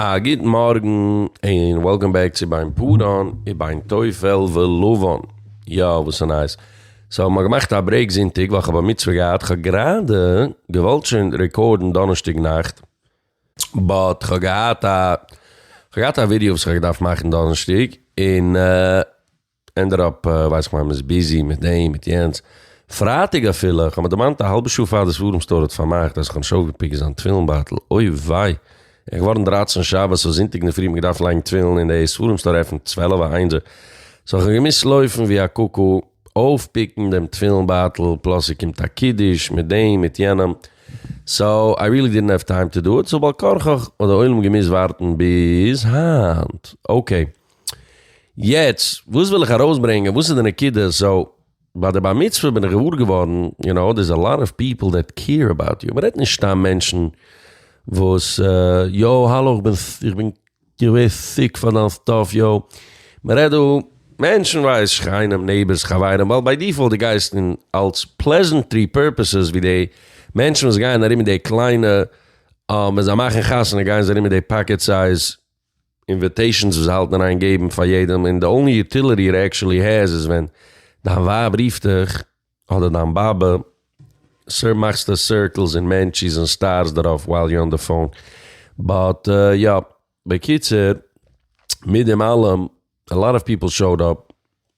א גוט מארגן און וועלקאם בעק צו ביין פאראן וביין טפל ולבן. יא וואס איז נייעס? סאו מ'האט געמאכט א ברעיק זונטאג ווייל כ'האב א מצוה געהאט, כ'האב גראדע געוואלט שוין רעקארדן דאנערשטאג נאכט באט כ'האב געהאט א כ'האב געהאט א ווידיא וואס כ'האב געדארפט מאכן דאנערשטאג און. ענד אט אפ, ווייס איך מיין מען איז ביזי מיט דעם מיט יענץ, פרייטאג אפילו, איך האב מיר דערמאנט א האלבע שעה פאר די ספרים סטאר האט פארמאכט אז איך האב נישט אויפגעפיקט זיין תפילין בייטל, אוי וויי, איך געווארן דרײַצן שבת סאו זונטאג אינדערפרי האב איך געדארפט לייגן תפילין און די ספרים סטאר עפענט צוועלף א איינזער, סאו איך האב געמוזט לויפן ווי א קוקו אויפפיקן דעם תפילין בייטל, פלאס ס'קומט א קידוש מיט דעם מיט יענעם, סאו איי ריעלי דידנט האוו טיים טו דא איט, סאו בעל כרחך האט די עולם געמוזט ווארטן ביז היינט, אקעי יעצט וואס וויל איך ארויסברענגען וואס איז די נקודה סאו ביי די בר מצוה בין איך געוואר געווארן יו נאו דעיס א לאט אוו פיפל דעט קעיר אבאוט יו מ'רעדט נישט סתם מענטשן וואס יאו האלא איך בין איך בין געווער סיק פאר דיין סטאף יאו מ'רעדט דא מענטשן ווייס שכנים נעיבערס חברים ווייל ביי דיפאלט די גייסט אין אלס פלעזענטרי פורפעסעס ווי די מענטשן וואס גייען ארום מיט די קליינע ווען זיי מאכן חתונה גייען זיי ארום מיט די פאקעט סייז. אינוויטעישאנס וואס זיי האלטן אריין געבן פאר יעדעם און די אנלי יוטיליטי איט עקשעלי העז איז ווען דיין ווייב רופט דיך אדער דיין באבע סאו מאכסטו סירקלס און מענטשיס און סטארס דערויף ווייל יו אן די פאון באט יא בקיצור מיט דעם אלעם א לאט אוו פיפל שאוד אפ,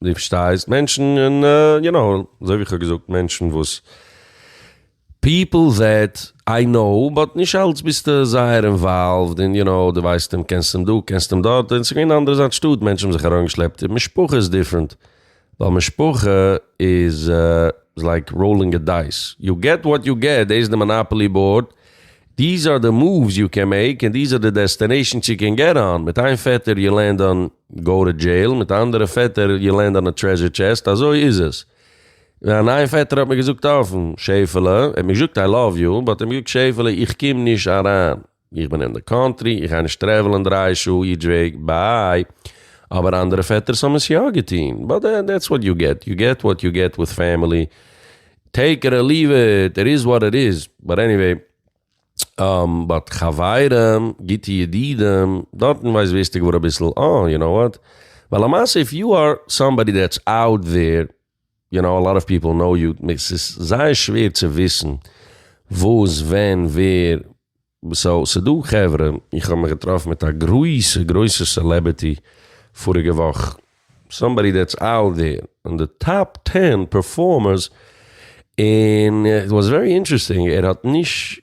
דו פארשטייסט, מענטשן און יו נאו, אזוי ווי איך האב געזאגט, מענטשן וואס פיפל זעט איי נאו, באט נישט אלץ ביסטו זייער אינוואלווד און יו נאו, דו ווייסט אים, קענסט אים דא, קענסט אים דארט, און ס'איז געווען אנדערע זיין שטאט, מענטשן האבן זיך אריינגעשלעפט, משפחה איז דיפרענט, ווייל משפחה איז לייק ראולינג א דייס, יו געט וואט יו געט, דאס איז די מאנאפאלי באורד, דיז אר די מאווס יו קען מעיק און דיז אר די דעסטענעישאנס יו קען געט אן, מיט איין פעטער יו לענד אן גאו טו דזשעיל, מיט א אנדערע פעטער יו לענד אן א טרעזשער טשעסט, אזוי איז עס. מיין איין פעטער האט מיר געזאגט אפן, שעיפעלע, ער האט מיר געזאגט איי לאוו יו, באט ער האט מיר געזאגט שעיפעלע איך קום נישט אריין. איך בין אין די קאנטרי, איך גיי נישט טרעוולען דרײַ שעה איטש וועי, ביי. אבער אנדערע פעטערס האבן עס יא געטון, באט דעטס וואט יו געט, יו געט וואט יו געט וויט פעמילי, טעיק איט אר ליוו איט, איט איז וואט איט איז, באט עניוועי. באט חברים, גוטע ידידים, דארטן ווייסט ווערסטו געוואר אביסל אה, יו נאו וואט, ווייל למעשה איף יו אר סאמבאדי דעטס אוט דער, יו נאו א לאט אוו פיפל נאו יו, ס'איז זייער שווער צו וויסן וואס, ווען, ווער, סאו ס'דא חברה, איך האב מיך געטראפן מיט א גרויסע גרויסע סעלעבערטי פאריגע וואך, סאמבאדי דעטס אאוט דער און די טאפ טען פערפארמערס, און איט וואס ווערי אינטערעסטינג ער האט נישט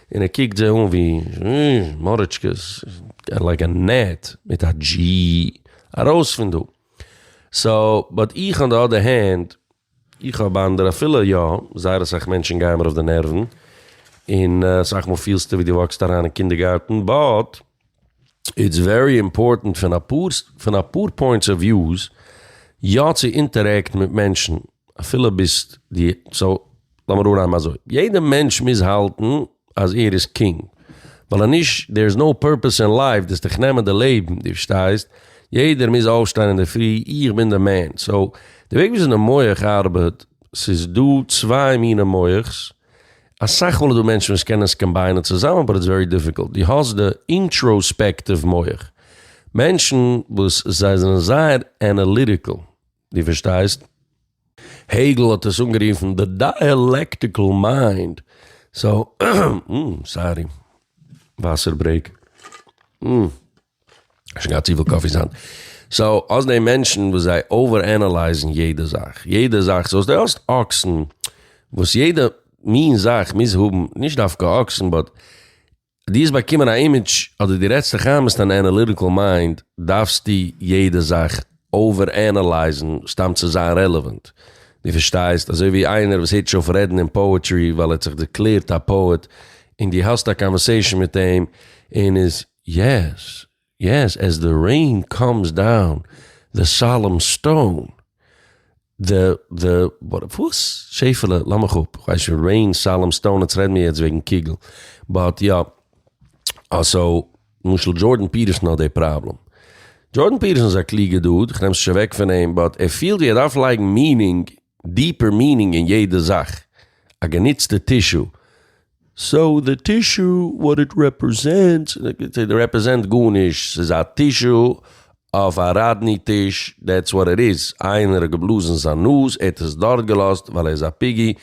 און ער קוקט זיי אן ווי מאריטשקעס, איך לייג א נעט מיט א דזשי ארויס פון דא. סאו באט איך אן די אדער הענד, איך האב אנדערע אפילו יא, זייער אסאך מענטשן גייען מיר אויף די נערוון, און אסאך מאל פילסטו ווי דו וואקסט אריין אין קינדערגארטן, באט. איטס ווערי אימפארטענט פון אפאר פון אפאר פוינטס אוו וויוס יא צו אינטערעקט מיט מענטשן אפילו ביזט די סאו לאמיר אננעמען אזוי יעדע מענטש מוז האלטן אז ער איז קינג ווייל אז נישט דער איז נאו פורפעס אין לייף דאס דיך נעמען די לעבן די פארשטייסט יעדער מוז אויפשטיין אינדערפרי איך בין די מען סאו די וועג וויאזוי די מח ארבעט סאיז דא צוויי מיני מוח'ס. אסאך מאל איז דא מענטשן וואס קענען עס קאמביינען צוזאמען באט איטס ווערי דיפיקולט, דו האסט די אינטראספעקטיוו מח, מענטשן וואס זיי זענען זייער אנאליטיקעל, דו פארשטייסט? העגל האט עס אנגערופן די דייעלעקטיקעל מיינד, סאו, סארי, וואסער ברעיק. שוין געהאט צופיל קאפי זיין סאו האסט דעי מענטשן וואס זיי אווער ענעלייזן יעדע זאך יעדע זאך סאו די האסט אקסן וואס יעדע מין זאך מוז האבן נישט דווקא אקסן באט די האסט באקומען א אימעדזש אדער די רעדסט דיך איין ביסט אן ענעליטיקעל מיינד דארפסטו יעדע זאך אווער ענעלייזן סתם צו זיין רעלעווענט די פארשטייסט אזוי ווי איינער וואס הערט נישט אויף רעדן אין פאעטרי ווייל ער האט זיך דערקלערט א פאעט און די האסט א קאנווערסעישן מיט אים און איז יעס יעס עז די רעין קאמס דאון די סאלעם סטאון די די וואס? שעפעלע לאמיך אפ כ'ווייס שוין רעין סאלעם סטאון עטס רעד מיר יעצט וועגן קוגל באט יא אה סאו למשל דזשארדען פיטערסאן האט די פראבלעם דזשארדען פיטערסאן איז א קלוגע דוד כ'נעם עס נישט אוועק פון אים באט ער פילט ווי ער דארף לייגן מינינג דיפער מינינג אין יעדע זאך, א גענוצטע טישו, סאו די טישו וואט איט רעפרעזענטס, סאו רעפרעזענט גארנישט, ס'איז א טישו אויף א ראדני טיש, דעטס וואט איט איז, איינער האט געבלאזן זיין נאז, ער האט עס דארט געלאזט ווייל ער איז א פיגי,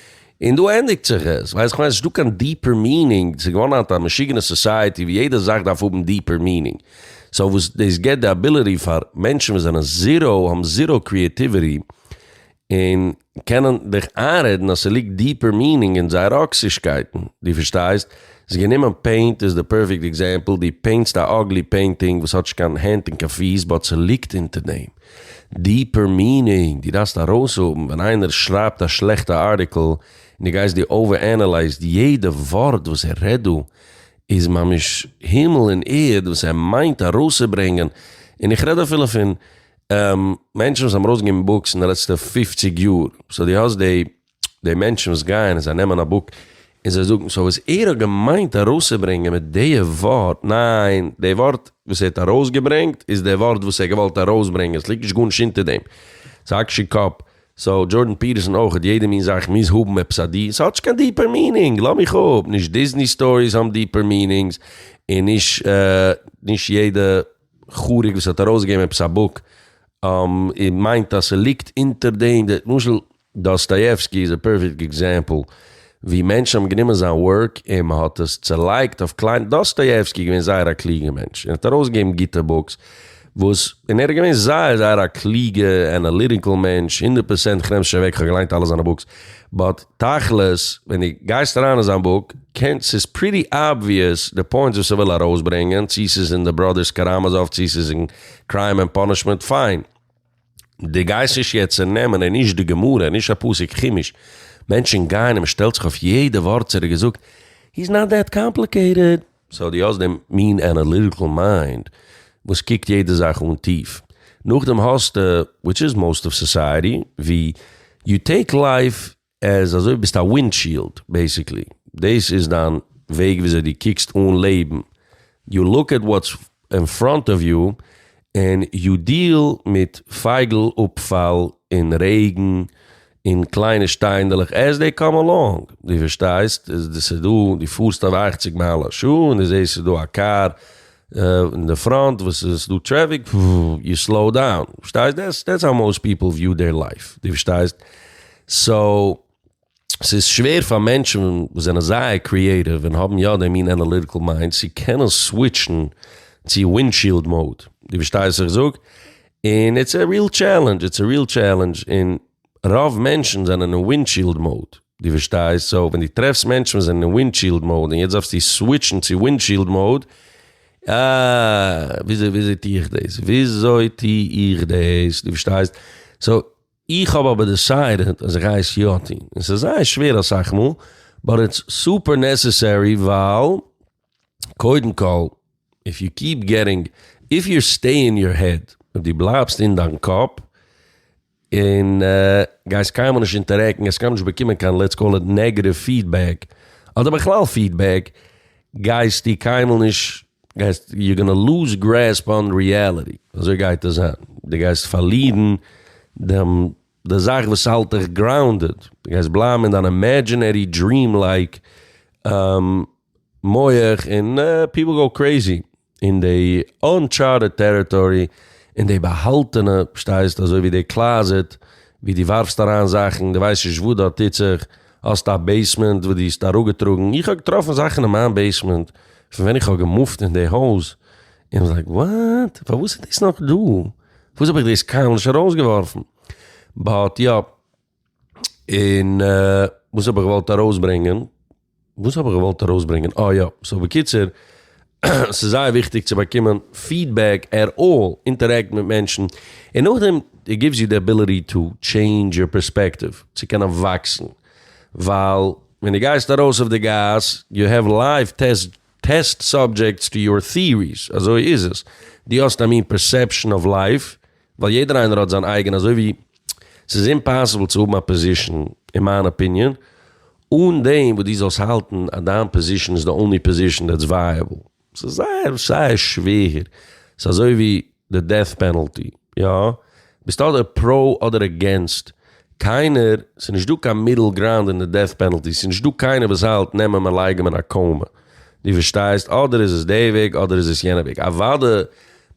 און דא ענדיגט זיך עס, ווייסט איך מיין ס'נישטא קיין דיפער מינינג, ס'איז געווארן היינט א משוגענע סאסייעטי ווי יעדע זאך דארף האבן דיפער מינינג, סאו וואס דאס גיבט די אביליטי פאר מענטשן וואס זענען זיראו, האבן זיראו קריעטיוויטי, און קענען דיך איינרעדן אז ס'ליגט דיפער מינינג אין זייער אקסישקייטן, דו פארשטייסט? איז גענומען פעינט איז די פערפעקט עקזעמפל, דו פעינטסט א אגלי פעינטינג וואס האט נישט קיין הענט און קיין פיס באט ס'ליגט אונטער דעם דיפער מינינג, דו דארפסט ארויסהאבן ווען איינער שרייבט א שלעכטע ארטיקל און דו גייסט דו אווער ענעלייזט יעדע ווארט וואס ער רעדט דא איז ממש הימל און ערד וואס ער מיינט ארויסצוברענגען, און איך רעד אפילו פון. מענטשן וואס האבן ארויס געגעבן בוקס אין די לעצטע פופציג יאר, סאו די האסט די די מענטשן וואס גייען און זיי נעמען א בוק און זיי זאגן, סאו וואס ער האט געמיינט ארויסצוברענגען מיט די ווארט, ניין די ווארט וואס ער האט ארויסגעברענגט איז די ווארט וואס ער האט געוואלט ארויסברענגען, ס'ליגט נישט גארנישט אונטער דעם, ס'איז אקשי קאפ, סאו דזשארדען פיטערסאן אויך, יעדע מין זאך מוז האבן עפעס א די, ס'האט נישט קיין דיפער מינינג, לאז מיך אפ, נישט דיזני סטאריס האבן דיפער מינינגס, און נישט נישט יעדע. חריג וואס האט ארויסגעגעבן עפעס א בוק און מיינט אז ס'ליגט אונטער דעם, למשל דאסטאיעווסקי איז א פערפעקט עקזעמפל ווי מענטשן האבן גענומען זיין ווארק און מ'האט עס צעלייגט אויף קליינע, דאסטאיעווסקי איז געווען זייער א קלוגע מענטש און האט ארויסגעגעבן גוטע בוקס וואס און ער איז געווען זייער זייער א קלוגע ענאליטיקעל מענטש הונדערט פראצענט כ'נעם עס נישט אוועק כ'האב געליינט אלע זיינע בוקס באט תכלית, ווען דו גייסט אריין אין זיין בוק, קענסט, ס'איז פריטי אבוויעס די פוינטס וואס ער וויל ארויסברענגען, צו ס'איז אין די בראדערס קאראמאזאוו צו ס'איז אין קריים ענד פאנישמענט, פיין. דו גייסט נישט יעצט צונעמען און נישט די גמרא און נישט א פסוק חומש, מענטשן גייען און מ'שטעלט זיך אויף יעדע ווארט צו ער האט געזאגט, היז נאט דעט קאמפליקעיטעד. סאו דו האסט דעם מין אנאליטיקל מיינד וואס קוקט יעדע זאך אן טיף. נאכדעם האסטו, וויטש איז מאוסט אוו סאסייעטי, ווי יו טעיק לייף עז אזוי ווי ביסט א ווינדשיעלד בעיסיקלי. דאס איז דיין וועג וויאזוי דו קוקסט אן לעבן. יו לוק עט וואטס אין פראנט אוו יו, און יו דיעל מיט פייגל אפפאל און רעגן און קליינע שטיינדלעך עז דעי קאם אלאנג, דו פארשטייסט? דאס איז דא, דו פארסט אויף אַכציק מייל א שעה און דו זעסט ס'איז דא א קאר אין די פראנט וואס ס'איז דא טרעפיק, פפפפ, יו סלאו דאון, פארשטייסט? דעטס האו מאוסט פיפל וויו דעיר לייף, דו פארשטייסט? סאו. ס'איז שווער פאר מענטשן וואס זענען זייער קריעטיוו און האבן יא די מין אנאליטיקל מיינד צו קענען סוויטשן צו ווינדשיעלד מוד, דו פארשטייסט וואס איך זאג? און איטס א ריעל טשעלענדזש, איטס א ריעל טשעלענדזש, און רוב מענטשן זענען אין ווינדשיעלד מוד, דו פארשטייסט? סאו ווען דו טרעפסט מענטשן וואס זענען אין ווינדשיעלד מוד און יעצט דארפסטו סוויטשן צו ווינדשיעלד מוד, אה, וויאזוי טו איך דאס? וויאזוי טו איך דאס? דו פארשטייסט? סאו, איך האב אבער דעסיידעד אז איך גיי עס יא טון, און ס'איז זייער שווער אסאך מאל, באט איטס סופער נעסעסערי ווייל קודם כל איף יו קיעפ געטינג, איף יו סטעי אין יור העד, אויב דו בלייבסט אין דיין קאפ און גייסט קיינמאל נישט אינטערעקטן, גייסט קיינמאל נישט באקומען קיין לעטס קאל איט נעגעטיוו פידבעק, אדער בכלל פידבעק, גייסטו קיינמאל נישט גייסט יו גאנא לוז גרעספ אן ריעליטי, אזוי גייט עס זיין, די גייסט פארלירן דעם די זאך וואס האלט דיך גראונדעד, די גייסט בלייבן אין דיין אימעדזשינערי דריעם לייק מח, און פיפל גאו קרעיזי אין די אנטשארטעד טעריטארי, אין די באהאלטענע פארשטייסט אזוי ווי די קלאזעט ווי די ווארפסט אריין זאכן די ווייסט נישט וואס דארט טוט זיך. האסט א בעיסמענט וואס דו האסט אראפגעטראגן? איך האב געטראפן זאכן אין מיין בעיסמענט פון ווען איך האב געמופט אין די הויז. און לייק וואט? פארוואס איז דאס נאך דא? פארוואס האב איך דאס קיינמאל נישט ארויסגעווארפן? באט יא. און וואס האב איך געוואלט ארויסברענגען? וואס האב איך געוואלט ארויסברענגען? אה יא. סאו בקיצור. עס איז זייער וויכטיג צו באקומען פידבעק עט אלל, אינטערעקט מיט מענטשן, און נאכדעם איט גיווס יו די עביליטי טו טשעינדזש יור פערספעקטיוו, צו קענען וואקסן, ווייל ווען דו גייסט ארויס אויף די גאס, יו העוו לייוו טעסט טעסט סאבדזשעקטס טו יור טיעריס, אזוי איז עס, דו האסט א מין פערסעפשאן אויף לייף, ווייל יעדער איינער האט זיין אייגענע אזוי ווי ס'איז אימפאסיבל צו האבן א פאזישן אין מיין אפיניען אן דעם וואס דו זאלסט האלטן אז דיין פאזישן איז די אנלי פאזישן דעטס ווייעבל. ס'איז זייער זייער שווער. ס'איז אזוי ווי די דעט פענעלטי. יא, ביסט אדער פרא אדער אגעינסט. קיינער, ס'איז נישט דא קיין מידל גראונד אין די דעט פענעלטי. ס'איז נישט דא קיינער וואס האלט נעם אים און לייג אים אין א קאומע. דו פארשטייסט? אדער איז עס די וועג אדער איז עס יענע וועג. אוואדע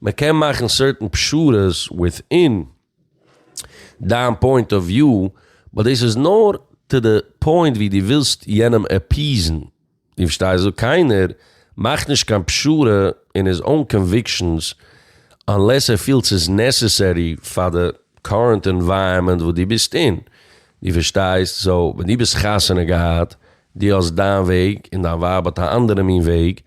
מען קען מאכן סערטען פשרות וויטין דיין פוינט אוו וויו, באט דאס איז נאר טו די פוינט ווי דו ווילסט יענעם עפיעזן, דו פארשטייסט? קיינער מאכט נישט קיין פשרה אין היז אוין קאנוויקשענס אנלעס ער פילט ס'איז נעסעסערי פאר די קארענט ענווייראמענט וואס דו ביסט אין, דו פארשטייסט? סאו ווען דו ביסט חתונה געהאט דו האסט דיין וועג און דיין ווייב האט א אנדערע מין וועג,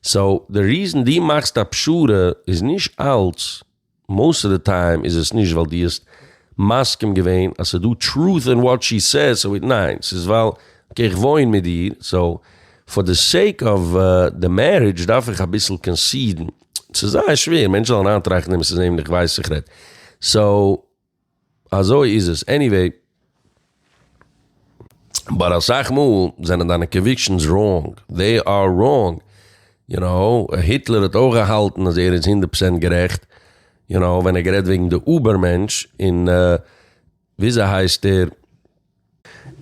סאו די ריזען דו מאכסט א פשרה איז נישט אלץ, מאוסט אוו די טיים איז עס נישט ווייל דו האסט מסכים געווען אז ס'איז דא טרוט אין וואט שי סעז סאו איט, ניין ס'איז ווייל אקעי איך וואוין מיט דיר סאו פאר די סעיק אוו די מערידזש דארף איך אביסל קאנסידן, ס'איז זייער שווער מענטשן זאלן אריינטראכטן און עס איז נעבן דיך ווייסט איך רעדט סאו. אזוי איז עס עניוועי. באט אסאך מאל זענען דיינע קאנוויקשענס ראנג, דעי אר ראנג, יו נאו, היטלער האט אויך געהאלטן אז ער איז הונדערט פראצענט גערעכט, יו נאו, ווען ער האט גערעדט וועגן די אובער מענטש און וויאזוי הייסט ער,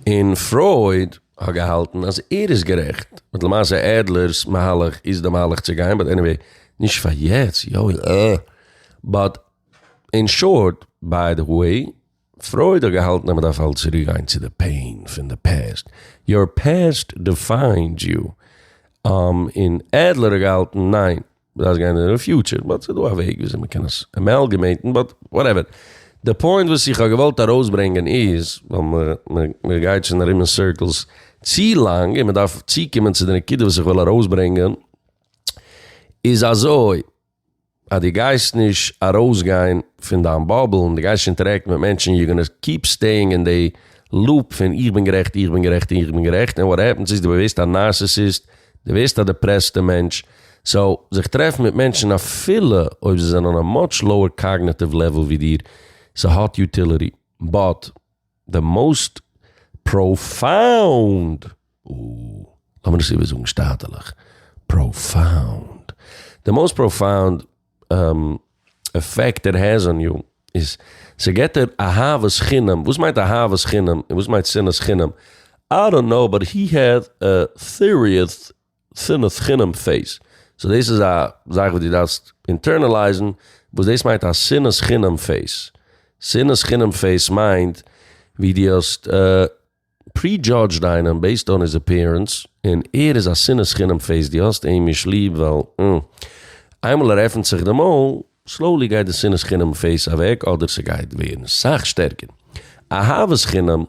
און פרויד האט געהאלטן אז ער איז גערעכט, באט למעשה עדלער'ס מהלך איז די מהלך צו גיין, באט עניוועי, נישט פאר יעצט, יוי אה, באט אין שארט, ביי די וועי, פרויד האט געהאלטן אז מען דארף אלץ צוריק גיין צו די פעין פון די פעסט, יור פעסט דיפיינד יו, און עדלער האט געהאלטן ניין מען דארף גיין אין די פיוטשער, באט ס'איז דא א וועג וויאזוי מען קען עס עמעלגעמעיטן, באט וואטעווער. די פוינט וואס איך האב געוואלט ארויסברענגען איז, ווייל מען גייט שוין ארום אין סירקלס צו לאנג און מען דארף צוקומען צו די נקודה וואס איך וויל ארויסברענגען, איז אזוי. אז דו גייסט נישט ארויסגיין פון דיין באבל און דו גייסט נישט אינטערעקטן מיט מענטשן יו גאנא קיפ סטעיאינג אין די לופ פון איך בין גערעכט איך בין גערעכט איך בין גערעכט ענד וואט העפענס איז דו ווערסט א נארסיסיסט דו ווערסט א דעפרעסטע מענטש סאו זיך טרעפן מיט מענטשן אפילו אויב זיי זענען אן א מאטש לאוער קאגנעטיוו לעוועל ווי דיר סהאט יוטיליטי באט די מאוסט פראפאונד, לאמיר עס איבערזאגן שטאטעלעך, פראפאונד, די מאוסט פראפאונד עפעקט איט העז אן יו איז, ס'געט דיר אהבת חינם, וואס מיינט אהבת חינם און וואס מיינט שנאת חינם, איי דאנט קנאו באט הי העז א סיריעס שנאת חינם פעיס. סאו דאס איז א זאך וואס דו דארפסט אינטערנעלייזן וואס דאס מיינט א שנאת חינם פעיס. שנאת חינם פעיס מיינט ווי דו האסט פרי-דזשאדזשד איינעם בעיסד אן היז עפיערענס און ער איז א שנאת חינם פעיס, דו האסט אים נישט ליב ווייל אה. איינמאל ער עפנט זיך די מויל סלאולי גייט די שנאת חינם פעיז אוועק אדער ס'גייט ווערן סאך שטערקער אהבת חינם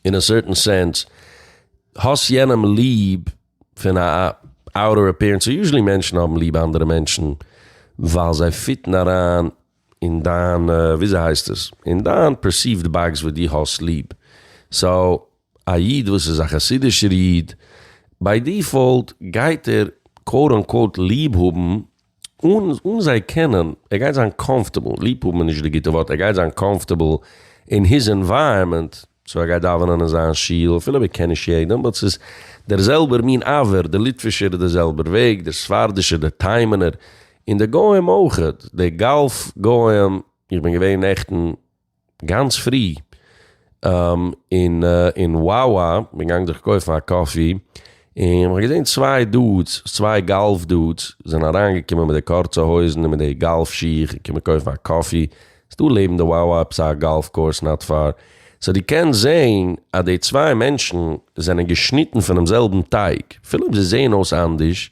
אין א סערטען סענס האסט יענעם ליב פון א אוטער אפירענס יוזשעלי מענטשן האבן ליב אנדערע מענטשן ווייל זיי פיטן אריין אין דיין וויאזוי הייסט עס אין דיין פערסיווט באקס וואס די האסט ליב סאו א איד וואס איז א חסידישער איד, ביי דיפאלט גייט ער קאוט אן קאוט ליב האבן אן אן זיי קענען, ער גייט זיין קאמפטעבל, ליב האבן איז נישט די גוטע ווארט, ער גייט זיין קאמפטעבל אין היז ענווייראמענט, סאו ער גייט דאווענען אין זיין שול אפילו ער קען נישט יעדעם, באט ס'איז דער זעלבער מין אווער, דער ליטווישער איז דער זעלבער וועג, דער ספרדישער, דער תימן'ער, און די גוים אויכעט, די גאלף גוים, איך בין געווען נעכטן. גאנץ פרי אין וואווא בין געגאנגען זיך קויפן א קאפי, און כ'האב געזען צוויי דודס, צוויי גאלף דודס, זענען אריינגעקומען מיט די קורצע הויזן און מיט די גאלף שיך און קומען קויפן א קאפי, ס'איז דא לעבן די וואווא עפעס א גאלף קאורס נאט פאר, סאו דו קענסט זען אז די צוויי מענטשן זענען געשניטן פונעם זעלבן טייג, אפילו אויב זיי זעען אויס אנדערש,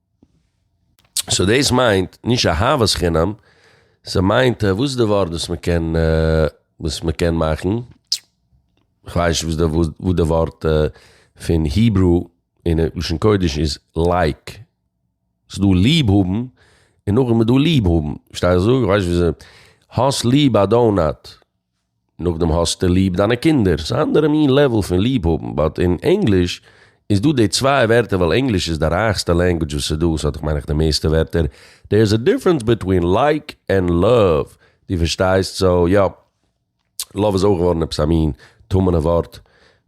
סאו דאס מיינט נישט אהבת חינם, ס'מיינט וואס איז די ווארט וואס מ'קען וואס מ'קען מאכן, כ'ווייס נישט וואס די וואס די ווארט פון היברו און לשון קודש איז לייק, ס'דא ליב האבן און נאכדעם איז דא ליב האבן, פארשטייסט וואס איך זאג? כ'ווייס נישט וויאזוי, האסט ליב א דאונאט? נאכדעם האסטו ליב דיינע קינדער, ס'איז א אנדערע מין לעוועל פון ליב האבן, באט אין ענגליש איז דא די צוויי ווערטער ווייל ענגליש איז די רייכסטע לענגווידזש וואס איז דא, ס'האט דאך מיין איך די מערסטע ווערטער, דער איז א דיפרענס ביטווין לייק ענד לאוו, דו פארשטייסט? סאו יא, לאוו איז אויך געווארן עפעס א מין טמא'נע ווארט.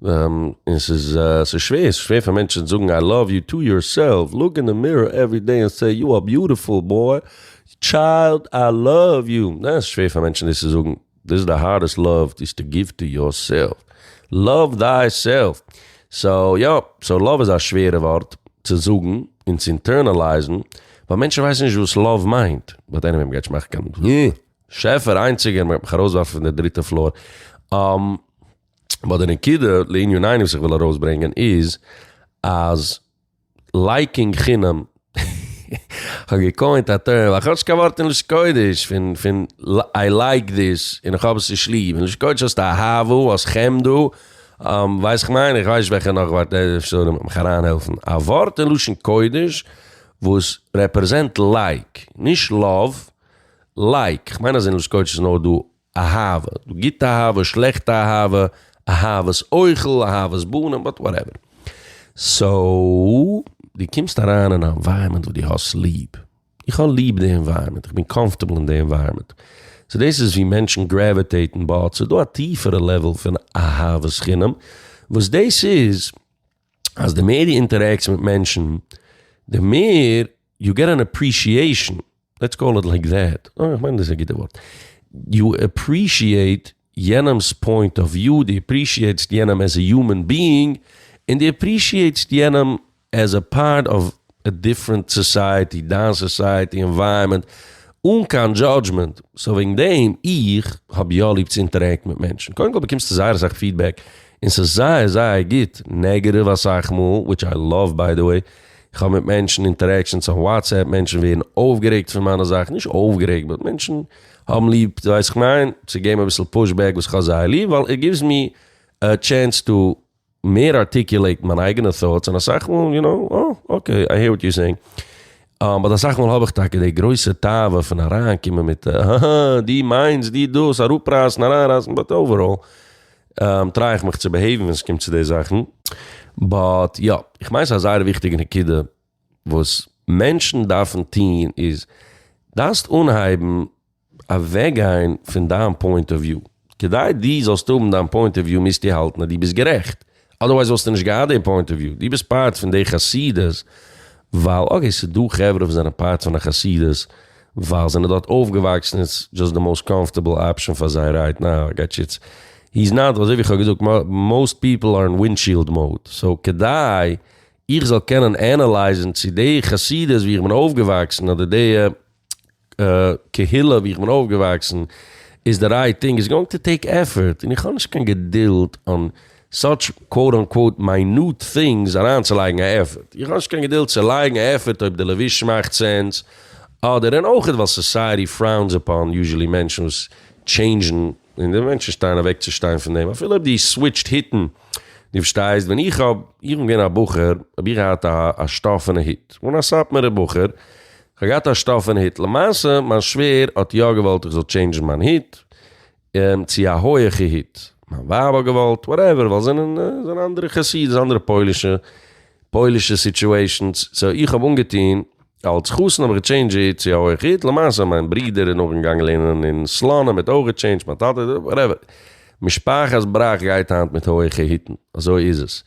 און ס'איז ס'איז שווער, ס'איז שווער פאר מענטשן זאגן איי לאוו יו טו יור סעלף, לוק אין די מירער עווערי דעי און סעי יו אר ביוטיפול בוי, טשיילד, איי לאוו יו, ניין ס'איז שווער פאר מענטשן דאס צו זאגן, דאס איז די הארדעסט לאוו איז טו גיוו טו יור סעלף, לאוו דיי סעלף, סאו יא, סאו לאוו איז א שווערע ווארט צו זאגן און צו אינטערנעלייזן, ווייל מענטשן ווייסן נישט וואס לאוו מיינט, באט עניוועי מ'גייט נישט מאכן קיין, אה, שעפער איינציגער מ'גייט מיך ארויסווארפן פון די דריטע פלאר, אה. באט די נקודה לענין ענין וואס איך וויל ארויסברענגען איז אז לייקינג חינם כ'האב געקוינט א טערם, איך האב נישט קיין ווארט אין לשון קודש פון פון איי לייק דיס און איך האב עס נישט ליב, אין לשון קודש האסטו אהבה, האסט חמדה, ווייסט איך מיין, איך ווייס נישט וועלכע נאך ווארט, אפשר מען קען מיך אריינהעלפן, א ווארט אין לשון קודש וואס רעפרעזענט לייק, נישט לאוו, לייק, כ'מיין אז אין לשון קודש איז נאר דא אהבה, דו גוטע אהבה, שלעכטע אהבה, אהבת אוכל, אהבת בנים, באט וואטעווער. סאו, דו קומסט אריין אין א ענווייראמענט וואס דו האסט ליב. איך האב ליב די ענווייראמענט, איך בין קאמפארטעבל אין די ענווייראמענט. סאו דאס איז ווי מענטשן גרעוויטעיטן באט ס'איז דא א טיפערע לעוועל פון אהבת חינם, וואס דאס איז אז די מער דו אינטערעקטס מיט מענטשן, די מער. יו געט אן עפרישיעישאן, לעטס קאל איט לייק דעט, אוי איך מיין דאס איז א גוטע ווארט, יו עפרישיעיט יענעמ'ס פוינט אוו וויו, דו עפרישיעיטסט יענעם עז א יומען ביאינג, און דו עפרישיעיטסט יענעם עז א פארט אוו א דיפרענט סאסייעטי, דיין סאסייעטי ענווייראמענט, אן קיין דזשאדזשמענט, סאו וועגן דעם, איך האב יא ליב צו אינטערעקטן מיט מענטשן, קודם כל באקומסטו זייער אסאך פידבעק, און ס'איז זייער זייער גוט, נעגעטיוו אסאך מאל, וויטש איי לאוו ביי די וועי. איך האב מיט מענטשן אינטערעקשאנס אויף וואטסעפפ, מענטשן ווערן אויפגערעגט פון מיינע זאכן, נישט אויפגערעגט באט מענטשן האבן ליב, דו ווייסט וואס כ'מיין, צו געבן אביסל פוש בעק וואס כ'האב זייער ליב, ווייל איט גיווס מי א טשענס טו מער ארטיקולעיטן מיין אייגענע טאטס, און אסאך מאל יו נאו, אה, אקעי, איי העיר וואט יו סעיאינג, באט אסאך מאל האב איך טאקע די גרויסע תאווה פון אריינקומען מיט א, אההה, דו מיינסט, דו דאס, אראפרייסן, אריינרייסן, באט אוועראל, טריי איך מיך צו בעהעיוון ווען ס'קומט צו די זאכן. באט יא, איך מיין ס'איז א זייער וויכטיגע נקודה, וואס מענטשן דארפן טוהן איז, דארפסט אנהייבן אוועק גיין פון דיין פוינט אוו וויו, כדי דו זאלסט האבן דיין פוינט אוו וויו מוזטו האלטן אז דו ביסט גערעכט, אדערווייז וואלסטו נישט געהאט די פוינט אוו וויו, דו ביסט פארט פון די חסידות ווייל אקעי ס'איז דא חברה וואס זענען פארט פון א חסידות ווייל זיי זענען דארט אויפגעוואקסן און ס'איז דזשאסט די מאוסט קאמפארטעבל אפשען פאר זיי רייט נאו איי גאט יו איטס איז נאט אזוי ווי כ'האב געזאגט מאוסט פיפל אר אין ווינדשיעלד מאוד סאו כדי איך זאל קענען ענעלייזן צו די חסידות ווי איך בין אויפגעוואקסן אדער די קהילה ווי איך בין אויפגעוואקסן איז די רייט טינג, איטס גאוינג טו טעיק עפפארט, און איך האב נישט קיין געדולד און סאטש קוואוט אנקוואוט מיינוט טינגס אריינצולייגן א עפפארט, איך האב נישט קיין געדולד צו לייגן א עפפארט אויב די לבוש מאכט סענס אדער, און אויך ווייל סאסייעטי פראונס אפאן יוזשעלי מענטשן וואס טשעינדזשן, און די מענטשן שטייען אוועק צו שטיין פון דעם אפילו אויב דו סוויטשט היטן, דו פארשטייסט ווען איך האב איך בין געווען א בחור האב איך געהאט א שטאפענע היט, און א סאטמארע בחור כ'האב געהאט א שטאפענע היט, למעשה מיין שווער האט יא געוואלט איך זאל טשעינדזשן מיין היט צו א הויעכע היט, מיין ווייב האט געוואלט, וואטעווער, ווייל זענען זענען אנדערע חסידות, אנדערע פוילישע פוילישע סיטשועישאנס, סאו איך האב אנגעטוהן, אלץ חתן האב איך געטשעינדזשט היט צו א הויעכע היט, למעשה מיין ברודער איז נאכדעם געגאנגען לערנען אין סלאנים האט אויך געטשעינדזשט, מיין טאטע, וואטעווער, משפחת בראך גייט היינט מיט הויעכע היטן, אזוי איז עס,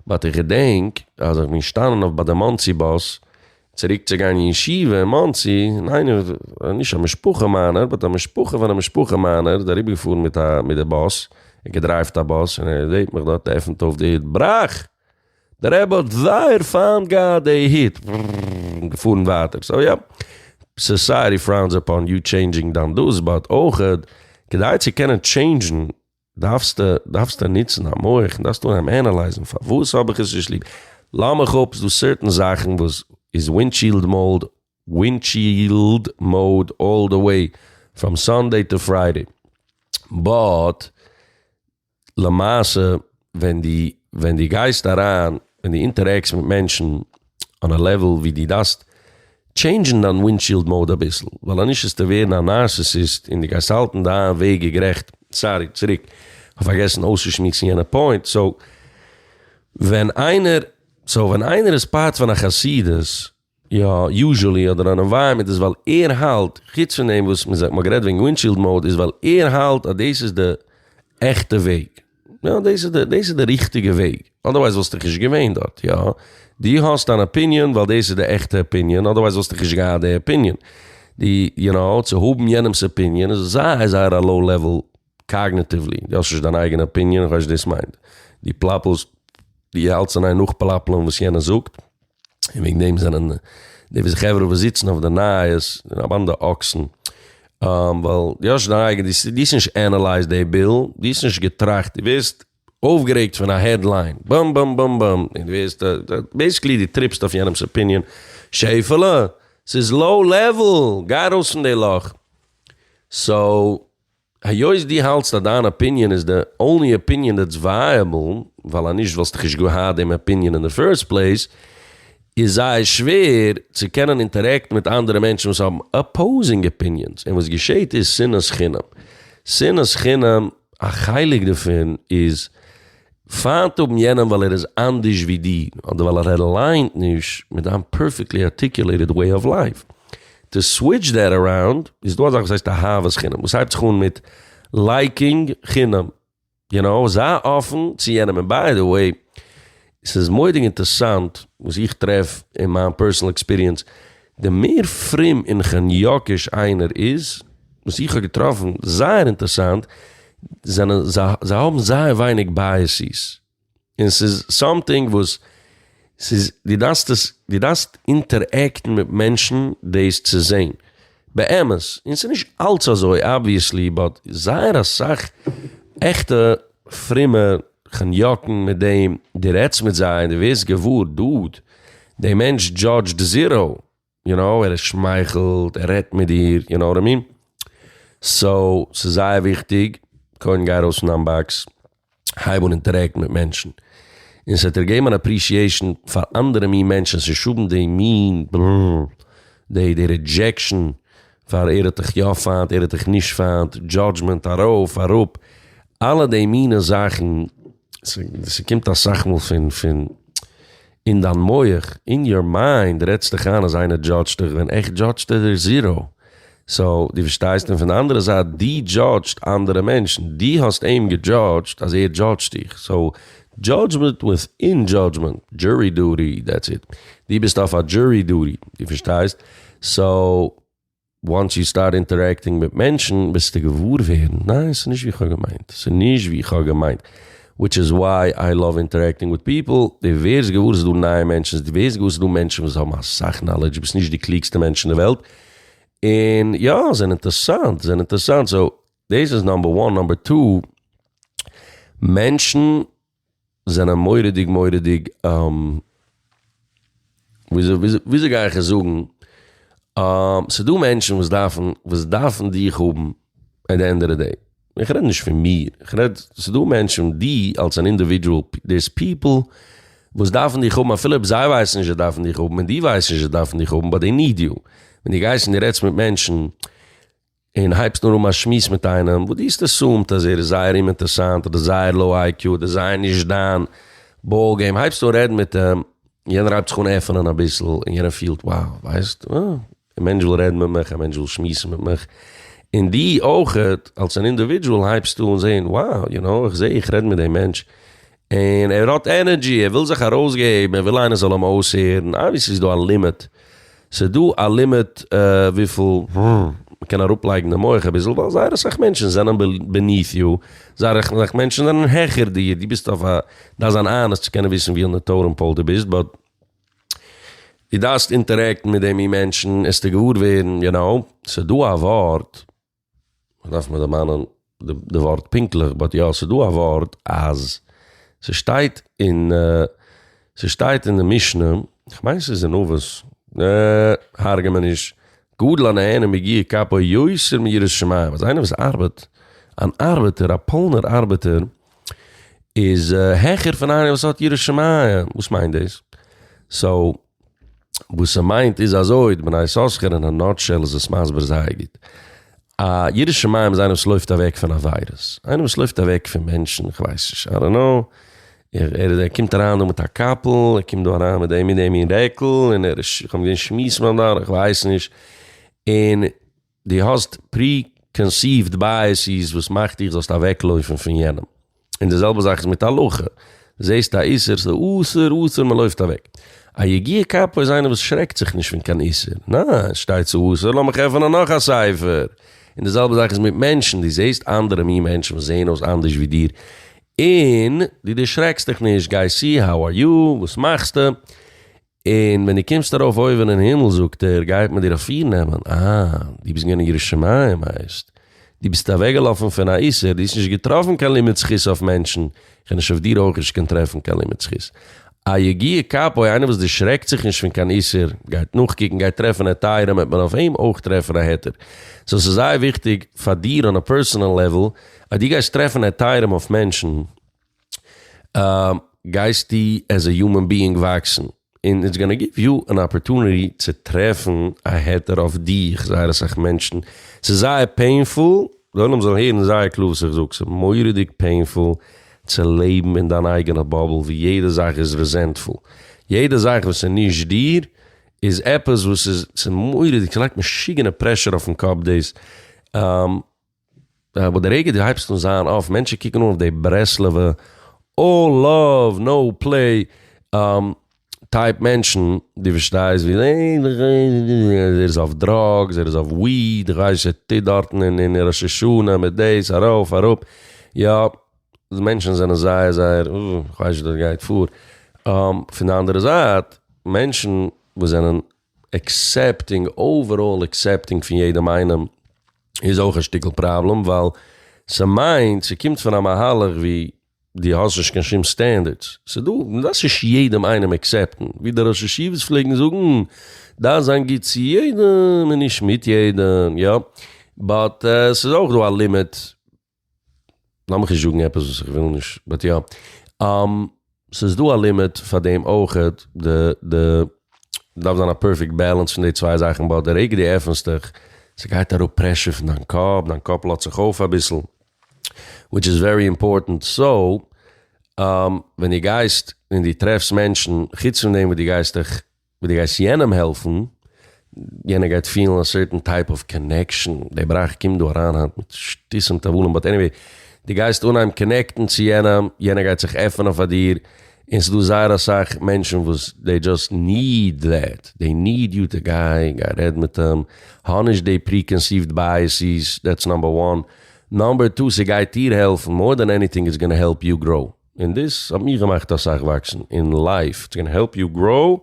באט איך געדענק אז איך בין געשטאנען אויף ביי די מאנסי באס, צוריק צו גיין אין ישיבה אין מאנסי, און איינער, נישט א משפחה מיינער, באט א משפחה פון א משפחה מיינער, איז אריבער געפארן מיט א, מיט די באס, ער געדרייווט א באס, און ער זעהט מיך דארט, עפענט אויף די היט, בראך! די רבי האט זייער פיינט געהאט די היט! און געפארן ווייטער. סאו יא, סאסייעטי פראונס אפאן יו טשעינדזשינג דיין דעות, באט אויכעט, כדי צו קענען טשעינדזשן דארפסטו דארפסטו נוצן א מח און דארפסטו אנהייבן ענעלייזן פארוואס האב איך עס נישט ליב? לאז מיך אפ, ס'דא סערטען זאכן וואס איז ווינטשיעלד מאוד, ווינטשיעלד מאוד אלל די וועי פראם סאנדעי טו פריידעי, באט למעשה ווען די ווען די גייסט אריין און די אינטערעקסט מיט מענטשן, אן א לעוועל ווי די דארפסט טשעינדזשן דיין ווינדשיעלד מאוד אביסל, ווייל אנישט וועסטו ווערן א נארסיסיסט און די גייסט האלטן דיין וועג איז גערעכט, סארי צוריק כ'האב פארגעסן אויסצושמועסן יענע פוינט, סאו ווען איינער סאו ווען איינער איז פארט פון א חסידות יא יוזשעלי אדער אן ענווייראמענט איז ווייל ער האלט חוץ פון דעם וואס מ'האט גערעדט וועגן ווינדשיעלד מאוד איז ווייל ער האלט אז דאס איז די עכטע וועג. יא דאס איז די דאס איז די ריכטיגע וועג, אדערווייז וואלסטו דאך נישט געווען דארט, יא? דו האסט אן אפיניען ווייל דאס איז די עכטע אפיניען, אדערווייז וואלסטו דאך נישט געהאט די אפיניען. די, יו נאו, צו האבן יענעמ'ס אפיניען איז זייער זייער א לאו לעוועל קאגנעטיוולי, דו האסט נישט דיין אייגענע אפיניען, איך ווייס נישט וואס דאס מיינט. דו פלאפלסט, דו האלטסט אין איין נאכפלאפלען וואס יענער זאגט. און וועגן דעם זענען די וואס חברה וואס זיצן אויף די נייעס זענען א באנדע אקסן, ווייל דו האסט דיין אייגענע, דו האסט נישט ענעלייזט די ביל, דו האסט נישט געטראכט, דו ווערסט אויפגערעגט פון א העדליין, באם באם באם באם, און דו ווערסט, בעיסיקלי דו טריפסט אויף יענעמ'ס אפיניען, שעפעלע, ס'איז לאו לעוועל, גיי ארויס פון די לאך. סאו. היות דו האלטסט אז דיין אפיניען איז די אנלי אפיניען דעטס ווייעבל, ווייל אז נישט וואלסטו כ'נישט געהאט דעם אפיניען אין די פירסט פלעיס, איז זייער שווער צו קענען אינטערעקטן מיט אנדערע מענטשן וואס האבן אפאוזינג אפיניענס, און וואס געשעהט איז שנאת חינם. שנאת חינם, א חלק דערפון איז פיינט האבן יענעם ווייל ער איז אנדערש ווי דיר, אדער ווייל ער אליינט נישט מיט דיין פערפעקטלי ארטיקולעיטעד וועי אוו לייף. טו סוויטש דעט אראונד, איז דא אזאך וואס הייסט אהבת חינם, וואס הייבט זיך אן מיט לייקינג חינם. יו נאו, זיי אפן צו יענעם. און ביי די וועי, ס'איז מורא'דיג אינטערסאנט וואס איך טרעף אין מיין פערסאנעל עקספיריענס, די מער פרום און כאניאקיש איינער איז וואס איך האב געטראפן זייער אינטערסאנט זענען זיי האבן זייער ווייניג בייעסיס און ס'איז סאמטינג וואס ס'איז די דארפסט עס די דארפסט אינטערעקטן מיט מענטשן דאס צו זעהן באמת און ס'איז נישט אלץ אזוי אבוויעסלי באט זייער אסאך עכטע פרומע חניאקן מיט דעם דו רעדסט מיט זיי און דו ווערסט געוואר דוד דער מענטש דזשאדזשד זיראו יו נאו ער שמייכלט ער רעדט מיט דיר יו נאו וואט איי מין סאו ס'איז זייער וויכטיג קודם גיי ארויס פון דיין באקס הייב אן אינטערעקטן מיט מענטשן און ס'וועט דיר געבן אן אפרישיעישן פאר אנדערע מין מענטשן ס'שאדן די מין די רידזשעקשן פאר ער האט דיך יא פיינט ער האט דיך נישט פיינט, דזשאדזשמענט ארויף אראפ, אלע די מינע זאכן, ס'קומט אסאך מאל פון פון אין דיין מח, אין יור מיינד, רעדסט דיך איין אז איינער דזשאדזשט דיך ווען עכט דזשאדזשט ער זיראו, סאו דו פארשטייסט און פון די אנדערע זייט דו דזשאדזשט אנדערע מענטשן, דו האסט אים געדזשאדזשט אז ער דזשאדזשט דיך, סאו דזשאדזשמענט וויטין דזשאדזשמענט, דזשורי דוטי, דעטס איט, דו ביסט אויף א דזשורי דוטי, דו פארשטייסט? סאו וואנס יו סטארט אינטערעקטינג מיט מענטשן וועסטו געוואר ווערן ניין ס'נישט ווי כ'האב געמיינט ס'נישט ווי כ'האב געמיינט וויטש איז וויי איי לאוו אינטערעקטינג וויט פיפל די ווערסט געוואר ס'דא נייע מענטשן די ווערסט געוואר ס'דא מענטשן וואס האבן אסאך נאלעדזש ביסט נישט די קלוגסטע מענטש אין די וועלט און יא זענען אינטערסאנט זענען אינטערסאנט סאו דאס איז נאמבער וואן נאמבער טו מענטשן. זענען מורא'דיג מורא'דיג וויאזוי גיי איך עס זאגן, ס'דא מענטשן וואס דארפן וואס דארפן דיך האבן עט די ענד אוו די דעי, איך רעד נישט פון מיר, איך רעד ס'דא מענטשן די אלס אן אינדיווידזשועל, דעיס פיפל וואס דארפן דיך האבן אפילו אויב זיי ווייסן נישט זיי דארפן דיך האבן און די ווייסט נישט זיי דארפן דיך האבן באט דעי ניד יו, ווען די גייסט און די רעדסט מיט מענטשן. און הייבסט נאר אן א שמועס מיט איינעם וואס דו האסט עסומד אז ער איז זייער אומאינטערסאנט אדער זייער לאו איי קיו אדער זייער נישט דיין באל געים, הייבסט אן רעדן מיט אים, יענער הייבט זיך אן עפענען אביסל און יענער פילט wow ווייסט א מענטש וויל רעדן מיט מיך, א מענטש וויל שמועסן מיט מיך, און דו אויך אלס אן אינדיווידזשועל הייבסט אן זען wow יו נאו איך זע איך רעד מיט דעם מענטש און ער האט ענערדזשי, ער וויל זיך ארויסגעבן, ער וויל איינער זאל אים אויסהערן, אבוויעסלי איז דא א לימיט, ס'איז דא א לימיט וויפיל מ'קען אראפלייגן די מח אביסל, ווייל זייער אסאך מענטשן זענען בעניף יו, זייער אסאך מענטשן זענען העכער דיר, דו ביסט אויף א, דארפסט זיין אנעסט צו קענען וויסן ווי אין די טאטעם פאול דו ביסט, באט דו דארפסט אינטערעקטן מיט די מין מענטשן עסטו געוואר ווערן, יו נאו, ס'איז דא א ווארט. מ'דארף מיר דערמאנען די ווארט פונקטליך, באט יא ס'איז דא א ווארט אז ס'שטייט אין ס'שטייט אין די משנה, כ'מיין ס'איז אין אבות, הרג'ע מיר נישט, גדל א נהנה מיגיע כפו יותר מיראת שמים, אז איינער וואס ארבעט, אן ארבעטער, א פולנער ארבעטער, איז העכער פון איינער וואס האט יראת שמים, וואס מיינט דאס? סאו. וואס ס'מיינט איז אזוי, די בני יששכר אין א נאטשעל איז עס מסביר זייער גוט. א ירא שמים איז איינער וואס לויפט אוועק פון עבירות. איינער וואס לויפט אוועק פון מענטשן, כ'ווייס נישט, איי דאנט נאו. ער איז, ער קומט אריין דא מיט א קאפל, ער קומט דא אריין מיט דעם און דעם מין רעקל, און ער איז, כ'האב געזען שמיעסן ביים דאר, כ'ווייס נישט, און דו האסט פרי-קאנסיווד בייעסיס וואס מאכט דיך זאלסט אוועקלויפן פון יענעם. און די זעלבע זאך איז מיט הלכה. זעסט א איסור, ס'איז אסור, אסור, מען לויפט אוועק. א יגיע כפו איז איינער וואס שרעקט זיך נישט פון קיין איסור. ניין, שטייט ס'איז אסור, לאמיך עפענען נאך א ספר. און די זעלבע זאך איז מיט מענטשן, דו זעסט אנדערע מין מענטשן וואס זעען אויס אנדערש ווי דיר, און דו דערשרעקסט דיך נישט, גייסט צו, האו אר יו, וואס מאכסטו? און ווען דו קומסט ארויף אויבן אין הימל זאגט ער, גייט מען דיר אפירנעמען, אה, דו ביסט געווען אין ירושלים, הייסט, דו ביסט אוועקגעלאפן פון א איסור, דו האסט נישט געטראפן קיין לימוד זכות אויף מענטשן, כ'וועל נישט אויף דיר אויך נישט קען טרעפן קיין לימוד זכות. א יגיע כפו, איינער וואס דערשרעקט זיך נישט פון קיין איסור, גייט נאכקוקן, גייט טרעפן היתרים, וועט מען אויף אים אויך טרעפן א היתר. סאו ס'איז זייער וויכטיג פאר דיר אן א פערסאנעל לעוול, אז דו גייסט טרעפן היתרים אויף מענטשן, גייסטו עז א יומען ביאינג וואקסן און איטס גאנא גיוו יו אן אפערטוניטי צו טרעפן א העטער אויף דיך, זייער אסאך מענטשן, ס'איז זייער פעינפול, די עולם זאל הערן זייער קלאר וואס איך זאג, ס'איז מורא'דיג פעינפול צו לעבן אין דיין אייגענע באבל ווי יעדע זאך איז רעזענטפול, יעדע זאך וואס איז נישט דיר איז עפעס וואס איז, ס'איז מורא'דיג, ס'לייגט משוגענע פרעשור אויפן קאפ דאס. אבער די רגע דו הייבסט אן זיין אויף, מענטשן קוקן אן אויף די ברסלב'ע אלל לאוו נאו פלעי טייפ מענטשן, דו פארשטייסט ווי ער איז אויף דראגס, ער איז אויף וויד, איך ווייס נישט וואס ער טוט דארטן אין ראש השנה מיט דאס ארויף אראפ, יא, די מענטשן זענען זייער זייער, איך ווייס נישט וואס דארט גייט פאר, פון די אנדערע זייט מענטשן וואס זענען עקסעפטינג, אוועראל עקסעפטינג פון יעדעם איינעם איז אויך א שטיקל פראבלעם ווייל ס'מיינט ס'קומט פון א מהלך ווי דו האסט נישט קיין שום סטענדערדס, ס'דא, מ'דארף נישט יעדעם איינעם עקסעפטן, ווי די ראשי ישיבות פלעגן זאגן, דארף זיין גוט צו יעדעם און נישט מיט יעדעם, יא, באט ס'איז אויך דא א לימיט לאמיך נישט זאגן עפעס וואס איך וויל נישט, באט יא. ס'איז דא א לימיט פאר דעם אויך, די די דארף זיין א פערפעקט בעלענס פון די צוויי זאכן, באט די רגע דו עפענסט דיך, ס'גייט אראפ פרעשור פון דיין קאפ, דיין קאפ לאזט זיך אויף אביסל, וויטש איז ווערי אימפארטענט, סאו, ווען דו גייסט און דו טרעפסט מענטשן, חוץ פון דעם וואס דו גייסט דיך ווי די גייסט יענעם העלפן, יענער גייט פילן א סערטען טייפ אוו קאנעקשאן, די בראך קומט דא אריין היינט מיט שטות און תבלים, באט עניוועי, די גייסט אנהייבן קאנעקטן צו יענעם, יענער גייט זיך עפענען פאר דיר, און ס'דא זייער אסאך מענטשן וואס דעי דזשאסט ניד דעט, דעי ניד יו טו גיי, גיי רעד מיט אים, האב נישט דעי פרי-קאנסיווט בייעסיס, דעטס נאמבער וואן, נאמבער טו, ס'גייט דיר העלפן, מאר דען עניטינג איטס גאנא העלפ יו גראו. און דאס האט מיך געמאכט אסאך וואקסן אין לייף, איטס גאנא העלפ יו גראו,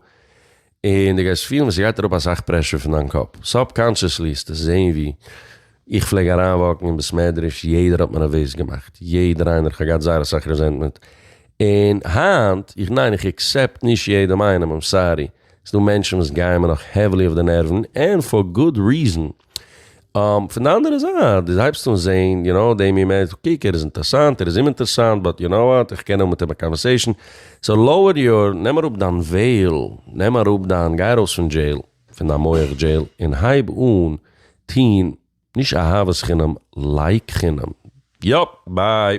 און דו גייסט פילן ווי ס'גייט אראפ אסאך פרעשור פון דיין קאפ, סאבקאנשעסלי העסטו זעהן ווי איך פלעג אריינוואקן אין בית מדרש יעדער האט מיר נערוועז געמאכט, יעדער איינער, איך האב געהאט זייער אסאך רעזענטמענט, און היינט איך ניין איך עקסעפט נישט יעדעם איינעם, איים סארי, ס'דא מענטשן וואס גייען מיר נאך העווילי אויף די נערוון, און פאר גוד ריזען. פון די אנדערע זייט, דו הייבסט אן זעהן, יו נאו, דעם ימ ש, קוק ער איז אינטערסאנט, ער איז אומאינטערסאנט, באט יו נאו וואט, איך קען האבן מיט אים א קאנווערסעישן, סאו לאוער יור, נעם אראפ דיין וועיל, נעם אראפ דיין, גיי ארויס פון דזשעיל, פון דיין מח דזשעיל, און הייב אן טוהן, נישט אהבת חינם, לייק חינם. יאפ! ביי!